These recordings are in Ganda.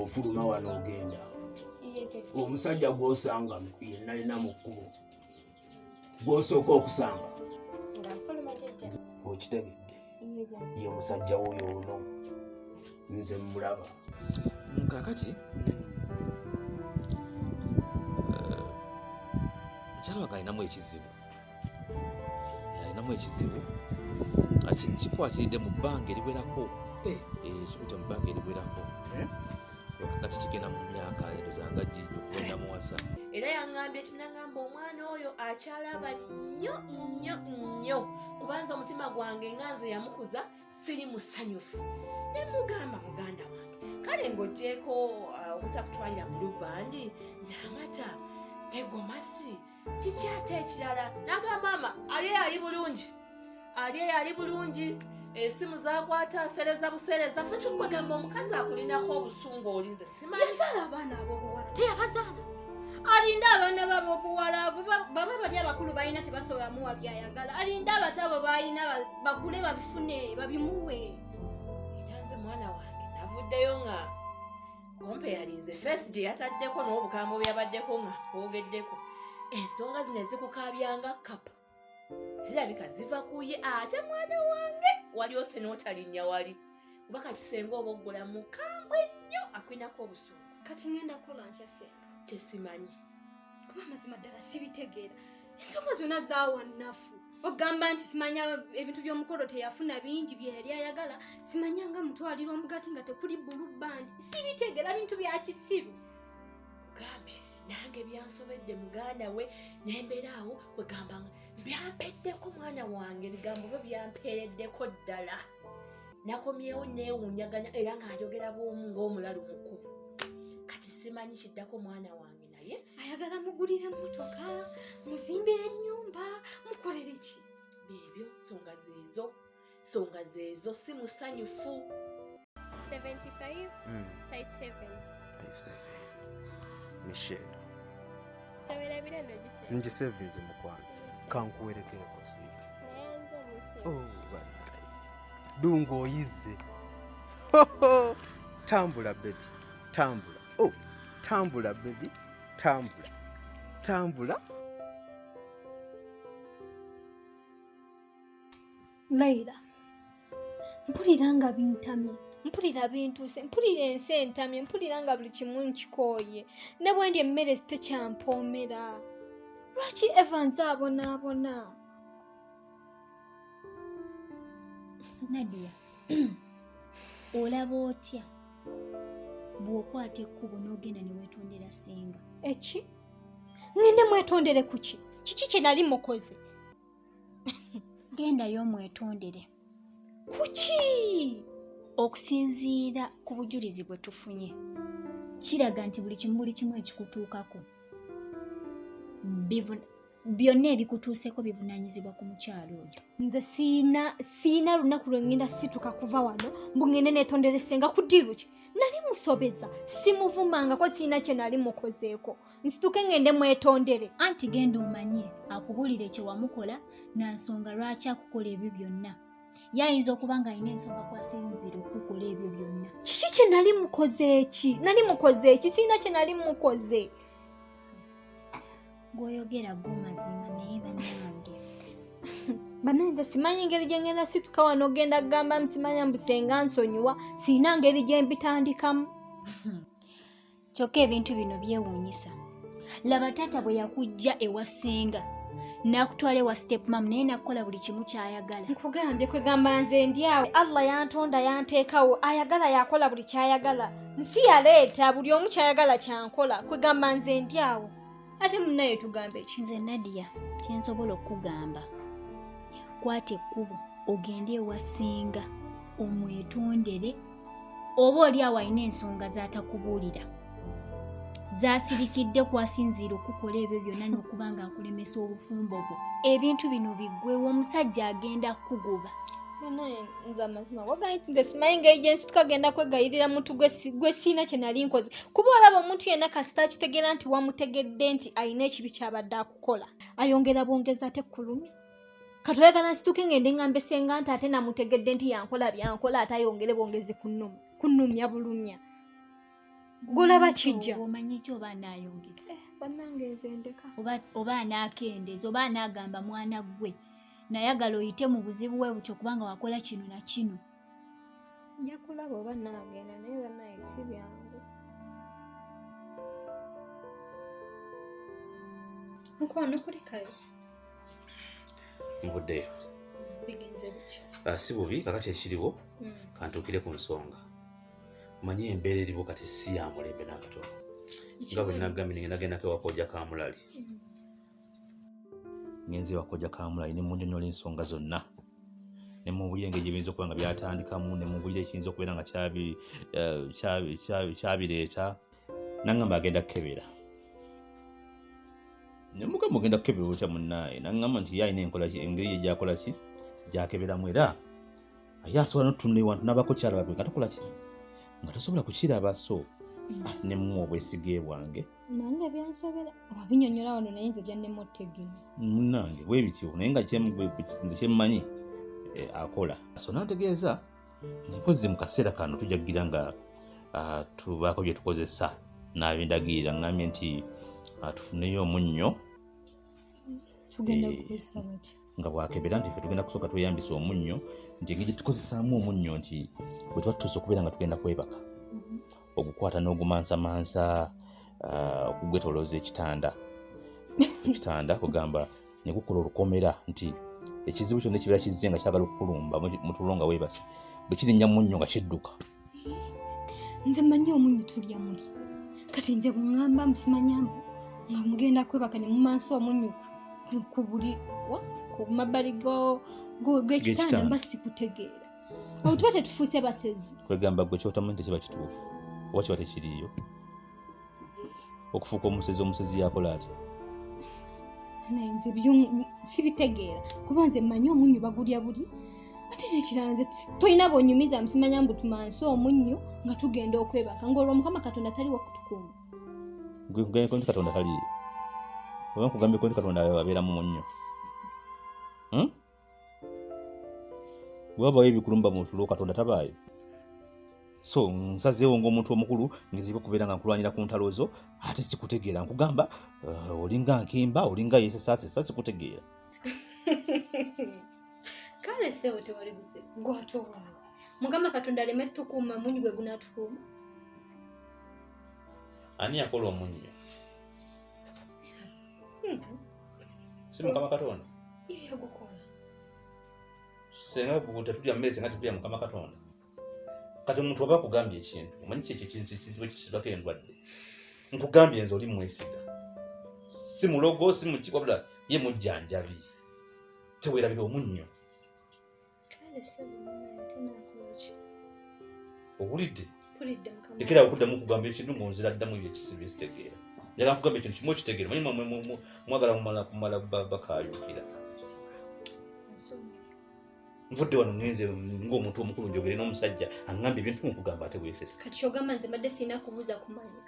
ofuluma wano ogenda omusajja gwosanga yenalina mu kkubo gwosooka okusanga okitegedde ye musajja woyo ono nze mulaba kakati mukyala mm, eh, wange alinamu ekizibu yalinamu ekizibu kikwatiridde mu bbanga eriwerako eh. eh, kikute mu bbanga eriwerako eh? kati kigenda mu myaka ero zanga gigenda muwasa era yangambye kinagamba omwana oyo akyalaba nnyo nnyo nnyo kubanza omutima gwange nga nze yamukuza siri musanyufu ne mugamba muganda wange kale ng'ogyeko uh, obutakutwalira mu lubbandi n'amata egomasi na kiki ate ekirala naga maama ali eyali bulungi ali eyali bulungi esimu zakwata asereza busereza fe kyokwegamba omukazi akulinako obusungu olinze simayazaala abaana abobuwala teyabazaala alinda abaana babo obuwala baba bali abakulu balina tebasobola muwa byayagala alinda abato abo balina bakule babifune babimuwe era nze mwana wange navuddeyo nga kumpe yalinze feesi gye yataddeko n'obugambo byabaddeko nga bwogeddeko ensonga zino ezikukabyanga kapa zirabika ziva ku ye ate mwana wange wali ose n'otalinnya wali kuba kakisenga oba oggula mukambwe nnyo akwinako obusungu kati ngenda kukola nkyase kye simanyi kuba amazima ddala sibitegeera ensonga zonna zaawa nnafu ogamba nti simanya ebintu by'omukolo teyafuna bingi byeyali ayagala simanya nga mutwalira omugati nga tekuli bulu bandi sibitegeera bintu bya kisiru kugambye nange byansobedde muganda we nembeera awo kwegambanga byampeddeko mwana wange ebigambo byo byampeereddeko ddala nakomyewo newunyaganya era nga njogera bwomu ngaomulalu mukulu kati simanyi kiddako mwana wange naye ayagala mugulire motoka muzimbire enyumba mukolere ki bebyo songa zezo songa zezo si musanyufu 75 mm. 57 57 michelle ngisevinze mukwano kankuwerekereko swit oh, Dungu oyizze. Tambula baby, tambula. Oh, tambula baby, tambula. Tambula. Laila, mpulira nga bintamye mpulira bintuuse mpulira ensi entamye mpulira nga buli kimu nkikooye ne bwe ndi emmere sitekyampomera lwaki evans abonaabona nadia olaba otya bw'okwata ekkubo n'ogenda ne weetondera singa eki ngende mwetondere kuki kiki kye nali mukoze gendayo omwetondere kuki okusinziira ku bujulizi bwe tufunye kiraga nti buli kimu buli kimu ekikutuukako byonna ebikutuuseko bivunanyizibwa ku mukyalo oyo nze siina siina lunaku lwe ngenda situka kuva wano mbu ngende netonderesenga ku diiru ki nali musobeza simuvumangako siina kye nali mukozeeko nsituke ngende mwetondere anti genda omanye akubulire kye wamukola na nsonga lwaki akukola ebyo byonna ye ayinza okuba ng'alina ensonga kwasinziira okukukola ebyo byonna kiki kye nali mukoze eki nali mukoze eki siina kye nali mukoze gwoyogera gwo mazima naye banange banaye nze simanyi ngeri gyengenda situka wano ogenda kugamba musimanya mbusenga nsonyiwa sirina ngeri gyembitandikamu kyokka ebintu bino byewuunyisa laba taata bwe yakujja ewa senga nakutwala ewa stepmam naye nakukola buli kimu kyayagala nkugambye kwegamba nze ndyawo allah yantonda yanteekawo ayagala yakola buli kyayagala nsi yaleeta buli omu kyayagala kyankola kwegamba nze ndyawo ate munaye tugambe ki nze nadia kyensobola okukugamba kwata ekkubo ogende ewasinga omwetondere oba oli awo alina ensonga z'atakubuulira zasirikidde kwasinziira okukola ebyo byonna n'okuba nga akulemesa obufumbo bwo ebintu bino biggwewo omusajja agenda kukugoba banaye nze amazima wagaye nze simanyi nga ejensi tukagenda kwegayirira muntu gwe siina kye nali nkoze kuba olaba omuntu yenna kasita akitegeera nti wamutegedde nti alina ekibi kyabadde akukola ayongera bwongeza ate kulumi katoyagala nsituke ngende ngambe senga nti ate namutegedde nti yankola byankola ate ayongere bwongezi kunumya bulumya golaba kijja omanyi ekyo oba anayongeza eh, banange nze ndeka oba anakendeza oba anagamba mwana gwe nayagala oyite mu buzibu bwe butyo kubanga wakola kino na kino nja kulaba oba naagenda naye banaye si byangu mukwano kulikayo nvuddeyo bigenze bityo ah, si bubi kakati ekiriwo hmm. kantuukire ku nsonga manye embeera eriwo kati si yamulembe n'akatono nga bwe nagambye ningendagendako ewakooja kamulali hmm. ngenzi wakojja kamulayi ne munyonyola ensonga zonna ne mubulira engeri gyebiyinza okuba nga byatandikamu ne mubulira ekiyinza okubeera nga eh, kyabireeta nangamba agenda kukebera nemuga mugenda kukebera otya munaaye nangamba nti yalina enkola engeri ye gyakola ki gyakeberamu era aye asobola notunula ewantu nabako kyala babiri nga tokola ki nga tosobola kukiraba so ah, nemuwa obwesige bwange nange byansobera wabinyonyola wano naye nze gyannemutegeera munange bwe bityo naye nga nze kyemmanyi eh, akola so nategeeza ntikozzi mu kaseera kano tujja kugira nga ah, tubaako bye tukozesa nabindagirira ngambye nti ah, tufuneyo omunnyo tugenda eh, kukozesa bati nga bwakebera nti fe tugenda kusooka tweyambisa omunnyo nti engeri gyetukozesaamu omunnyo nti bwe tuba tutuuse okubeera nga tugenda kwebaka mm-hmm. ogukwata n'ogumansamansa uh, okugwetolooza ekitanda ekitanda kugamba ne gukola olukomera nti ekizibu kyonna ekibeera kizze nga kyagala okukulumba mutulo nga weebase bwe kirinnya munnyo nga kidduka nze manyi omunyu tulya muli kati nze bungamba musimanyambu nga mugenda kwebaka ne mumansi omunyu ku buli ku mabbali gwekitanda mba sikutegeera awo tuba tetufuuse basezi kwegamba gwe kyotamanyi tekiba kituufu oba kiba tekiriyo okufuuka omusezi omusezi yakola atya nze sibitegeera kuba nze mmanyi omunnyu bagulya buli ate nekirala nze tolina bonyumiza msimanya mbu tumansi omunnyu nga tugenda okwebaka ngaolwo mukama katonda taliwo kutukuuma nkugambeko nti katonda taliyo oba nkugambeko nti katonda abeeramu munnyu hmm? wewabawo ebikulumba mu tulo katonda tabaayo so nsazeewo ngaomuntu omukulu ngezibwa okubeera nga nkulwanyira ku ntalo zo ate sikutegeera nkugamba uh, olinga nkimba olinga yesesaasesa sikutegeera kale sebo tewali buze gwatowaawe mukama katonda aleme tukuuma munyi gwe gunatukuuma ani yakola omunnyo hmm. si mukama katonda Yeye gukora. Senga buguta tulya mmese nga tulya mukama Katonda. Kati omuntu oba akugambye ekintu, omanyi kyekyo ekintu ekizibu ekisibako endwadde. Nkugambye nze oli mwesiga. Si mulogo, si muki wabula ye mujjanjabi. Tewerabira omunnyo. owulidde ekera okuddamu kugamba ekintu mu nzira ddamu byekisibi zitegeera njala nkugamba ekintu kimu okitegeera manyi mwagala kumala kumala bakayukira nvudde wano ngenze ngaomuntu omukulu njogere n'omusajja aŋamba ebintu mukugamba ate wesesa kati kyogamba nze mbadde sirina kubuuza kumanya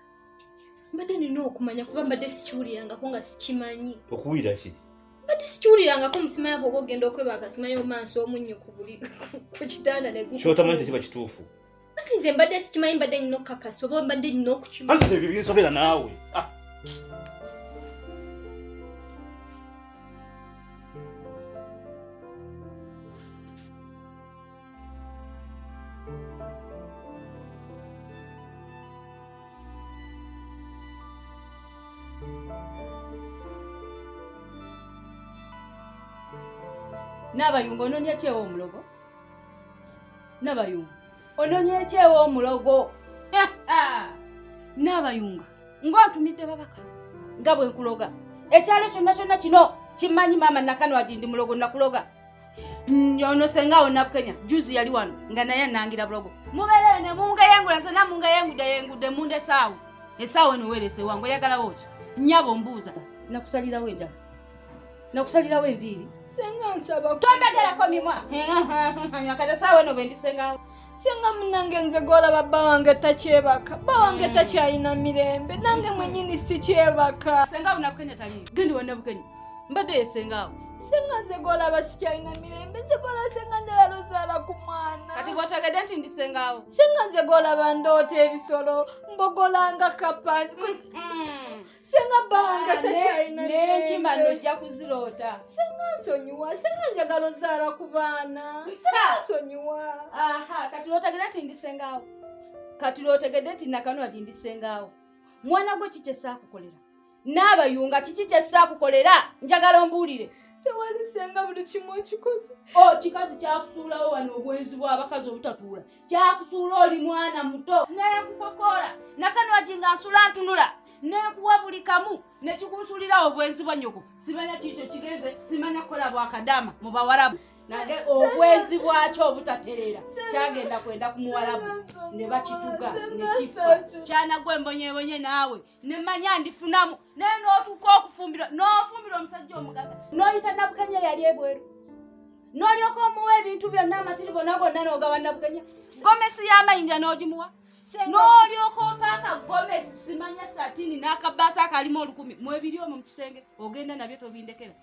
mbadde nina okumanya kuba mbadde sikiwulirangako nga sikimanyi okuwulira ki mbadde sikiwulirangako omusima yabo oba ogenda okweba akasima yomansi omunnyo ku buli ku kitanda nekyotamanyi tekiba kituufu anti nze mbadde sikimanyi mbadde nyina okukakasa oba mbadde nyina okukimanti ebyo binsobera naawe ah. nabayunga ononya ekyewo omulogo nabayunga ononya ekyewo omulogo nabayunga ngaotumidde babaka nga bwenkuloga ekyalo kyonna kyonna kino kimanyi maama nakanwagi ndi mulogo nakuloga Mm, ono senga awo nabukenya juzi yali wano nga naye anangira bulogo mubereyo ne mungeyengula zena mungeyengude yengude munda esaawo esaawo eno werese wange oyagalawo ki nyabo mbuuza nakusalirawo enjala nakusalirawo enviiri senga nsaba tombegerako mimwa akati esaawo eno bendisengawo singa munange nze gwolaba bba wange takyebaka bba wange hmm. takyalina mirembe nange mwenyini sikyebaka senga bunabukenya tali gendi wanabukenya mbadde yesengaawo singa nze gwolaba sikyalina mirembe nze gwolaba singa njagala ozaala ku mwana kati gwotegedde nti ndisengaawo singa nze gwolaba ndoota ebisolo mbogolanga kapani mm, mm. senga banga takyalina naye nkima nojja kuziroota senga nsonyiwa senga njagala ozaala ku baana senga nsonyiwa aha kati lwotegede nti ndi sengaawo kati lwotegede nti nakanula ti ndi sengaawo mwana gwe kiki esaakukolera n'abayunga kiki kyesaakukolera njagala ombuulire tewali senga buli kimu okikoze o oh, kikazi kyakusuulawo wano obwenzi bw'abakazi obutatuula kyakusuula oli mwana muto nekukokola nakanwagi nga nsula ntunula nekuwa buli kamu nekikunsulira obwenzi bwa nyoko simanya kiikyo kigenze simanya kukola bwakadama mu bawarabu nange obwenzi bwakyo obutatereera kyagenda kwenda ku muwarabu ne bakituga nekifa kyanagwe mbonyebonye naawe ne manya ndifunamu naye n'otuuka okufumbirwa n'ofumbirwa omusajja omugaga n'oyita nabukenya yali ebweru n'olyoka omuwa ebintu byonna amatiri gonna gonna n'ogawa nabukenya gomesi y'amayinja n'ogimuwa n'olyoka ompaaka gomesi simanya satini n'akabaasa akalimu olukumi mwebiri omwo mu kisenge ogenda nabyo tobindekera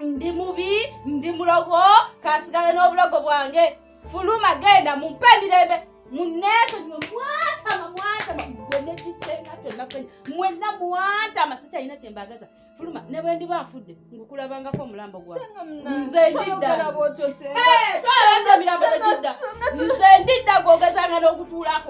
ndi mubi ndi mulogo kansigale n'obulogo bwange fuluma genda mumpe emirembe muneesonyiwe mwatama mwatama gwe nekisenga kyonna kwenya mwenna mwatama sikyalina kyembagaza fuluma ne bwe ndiba afudde ngukulabangako omulambo gwanze ndidda nze ndidda gwogezanga n'okutuulako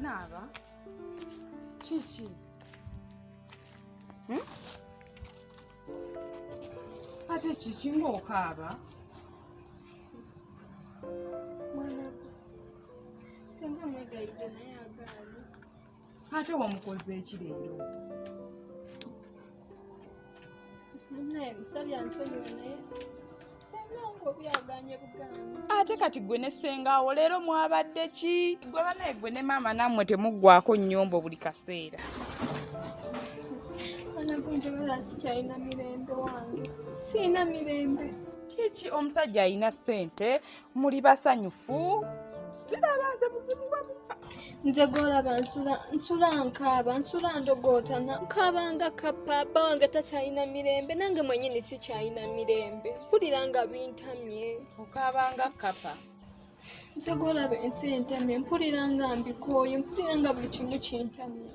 naaba kiki hmm? ate kiki ngaokaaba ate wamukoze eki leero ate kati gwe ne sengaawo leero mwabadde ki gwe banaye gwe ne maama nammwe temuggwako nnyombo buli kaseera sikyalina mirembe wange sirina mirembe kiki omusajja alina ssente muli basanyufu siraba nze buzibu bwamuka nze golaba nsula nsula nkaaba nsula ndogootana nkaaba nga kappa bba wange takyalina mirembe nange mwenyini sikyalina mirembe mpulira nga bintamye okaaba nga kappa nze golaba ensi entamye mpulira nga mbikooye mpulira nga buli kimu kintamye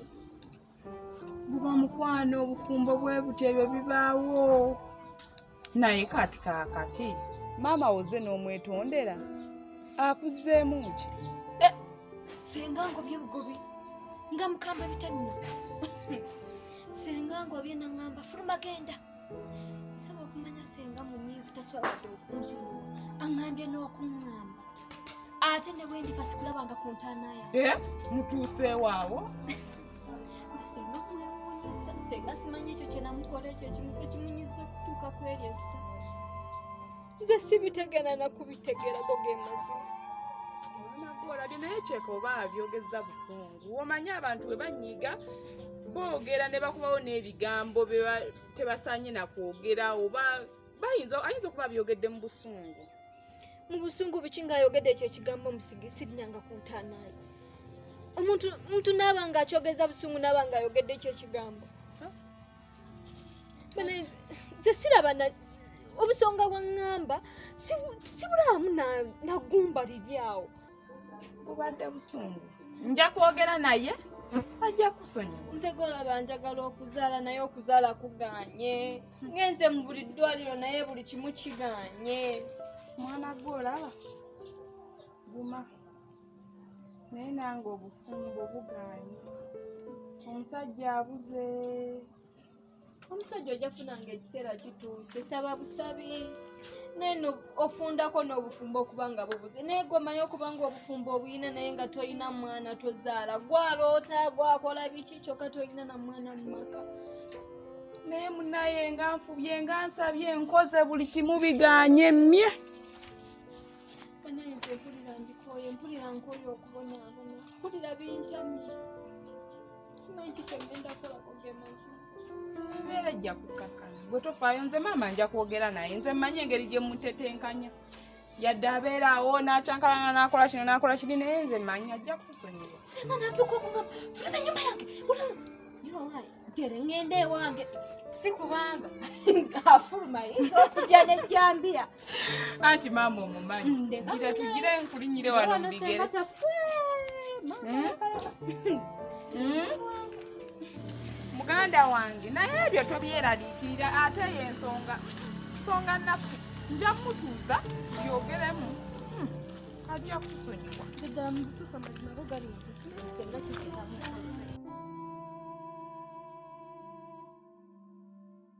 buba mukwano obufumbo bwe butyo ebyo bibaawo naye kati kakati maama woze n'omwetondera akuzzeemu ki eh, singa ngobye bugobi nga mukamba bitamina singa ngobye nangamba fuluma genda saba okumanya singa munyivu taswabadde okunzunula aŋambye n'okuŋamba ate ne bwe ndifa sikulabanga ku ntaana yange eh, mutuuseewo awo senga simanyi ekyo kyenamukola ekyo ekimunyiza okutuuka ku eryo essa nze sibitegera nakubitegerako ge mazima olabye naye kyeka oba abyogeza busungu omanyi abantu bwe banyiiga boogera ne bakubawo n'ebigambo tebasaanye nakwogera oba bayinza ayinza okuba abyogedde mu busungu mu busungu biki ng'ayogedde ekyo ekigambo musigi sirinyanga ku ntaanaayo omuntu muntu naaba nga akyogeza busungu naaba nga ayogedde ekyo ekigambo nze siraba obusonga bwa ŋŋamba sibulaamu nagumba liri awo bubadde busungu nja kwogera naye ajja kusonyiwa nze golaba njagala okuzaala naye okuzaala kuganye ngenze mu buli ddwaliro naye buli kimu kiganye mwana gwe olaba guma naye nange obufumbo buganye omusajja abuze omusajja ojja funa nga ekiseera kituuse saba busabi naye ofundako n'obufumbo okuba nga bubuze naye gwomanyi okuba nga obufumbo obuyina naye nga tolina mwana tozaala gwaloota gwakola biki kyokka tolina na mwana mu maka naye munaye nga nfubye nga nsabye nkoze buli kimu biganye mye naye nze mpulira ndikoye mpulira nkoye okubonaabona mpulira bintamye embeera ejja kukkakana gwe tofaayo nze maama nja kwogera naye nze mmanyi engeri gye mutetenkanya yadde abeera awo n'akyankalana n'akola kino n'akola kiri naye nze mmanyi ajja kusonyiwa singa natuuka okuba fuluma enyumba yange gere ŋŋenda ewange si kubanga afuluma yinza okujja n'ejjambiya anti maama omumanyi mm, gira tugire nkulinyire wano mubigere hmm? hmm? muganda wange naye ebyo tobyeraliikirira ate eyo ensonga nsonga naffe nja mutuuza byogeremu hmm. ajja kusonyiwa